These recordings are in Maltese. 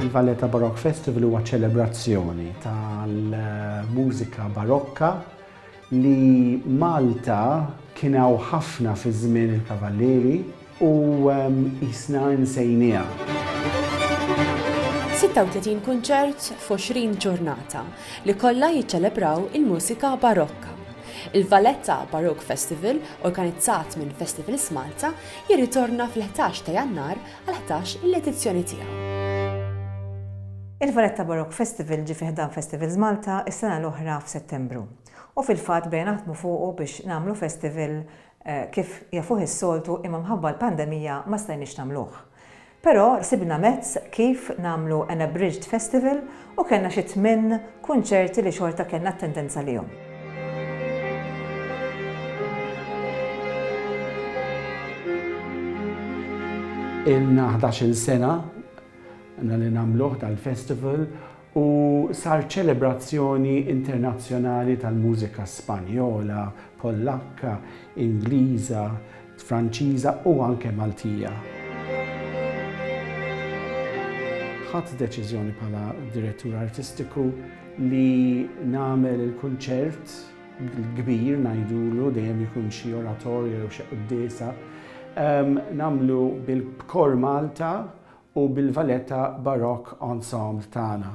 Il-Valletta Baroque Festival huwa ċelebrazzjoni tal-mużika barokka li Malta kien hawn ħafna fi żmien il-Kavallieri u qisna nsejnieha. 36 kunċert f'għoxrin ġurnata li kollha jiċċelebraw il-mużika Barokka. Il-Valletta Baroque Festival, organizzat minn Festivals Malta, jirritorna fil-ħdax ta' Jannar għall-ħdax il edizzjoni tiegħu. Il-Valletta Baroque Festival ġie fi ħdan Festivals Malta s-sena l-oħra f'Settembru u fil-fatt bdejna naħdmu fuqu biex nagħmlu festival kif jafuh is-soltu imma mħabba l-pandemija ma stajniex nagħmluh. Però sibna mezz kif nagħmlu an abridged festival U kellna xi tmien kunċerti li xorta kellna attendance għalihom. Ilna 11 sena na li namluħ tal-festival u sar ċelebrazzjoni internazzjonali tal-mużika Spanjola, Pollakka, Ingliża, Franċiża u anke Maltija. Ħadt deċiżjoni bħala direttur artistiku li nagħmel il-kunċert l-kbir ngħidulu dejjem ikun xi oratorja jew xi quddiesa ehm, nagħmlu bil-Kor Malta u bil-Valletta Baroque Ensemble tagħna.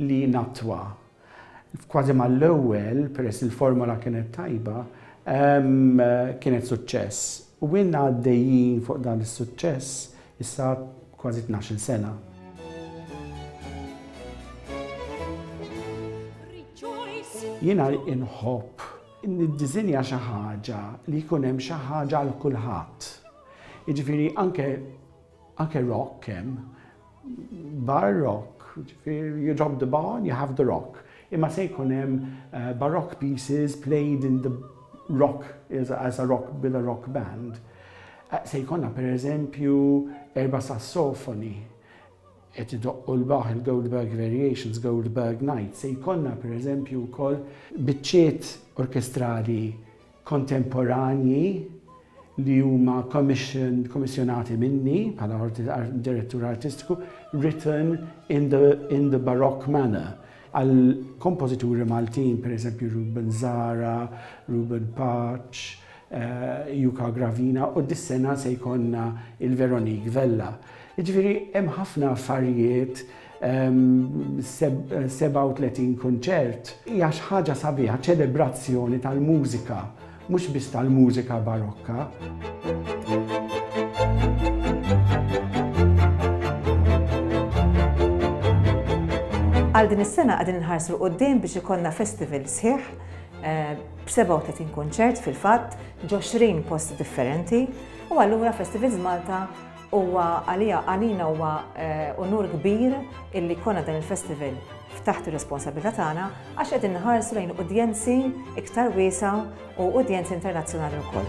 li nattwa. Kważi mal-ewwel, peress li l-formola kienet tajba, kienet suċċess. U ilna għaddejjin fuq dan is-suċċess issa kważi tnax-il sena. Jiena inħobb niddiżinja xi ħaġa li jkun hemm xi ħaġa għal kulħadd. Jiġifieri anke Anke rock hemm. Bar rock, jiġifieri you drop the bar, you have the rock. Imma se jkun hemm baroque pieces played in the rock, as a rock, with a rock band. Se jkollna pereżempju erba' sassofoni qed idoqqu l-Bach, il-Goldberg Variations, Goldberg Night. Se jkollna pereżempju wkoll biċċiet orkestrali kontemporanji li huma kommissjonati minni bħala direttur artistiku, written in the, in the baroque manner, għal kompożituri Maltin, per eżempju Ruben Zara, Ruben Paċ, eh, Juka Gravina, u dis-sena se jkonna il-Veronique Vella. Ġifiri, hemm ħafna affarijiet 37 kunċert hija xi ħaġa sabiħa, ċelebrazzjoni tal-mużika, mhux biss tal-mużika Barokka. Għal din is-sena qegħdin inħarsu 'l quddiem biex ikollna festival sħiħ b' 37 kunċert fil-fatt, ġo 20 post differenti u allura Festivals Malta Huwa għalija, għalina huwa unur kbir illi jkollna dan il-festival f'taħt ir-responsabilità tagħna għax qegħdin nħarsu lejn udjenzi iktar wiesgħa u udjenzi internazzjonali wkoll.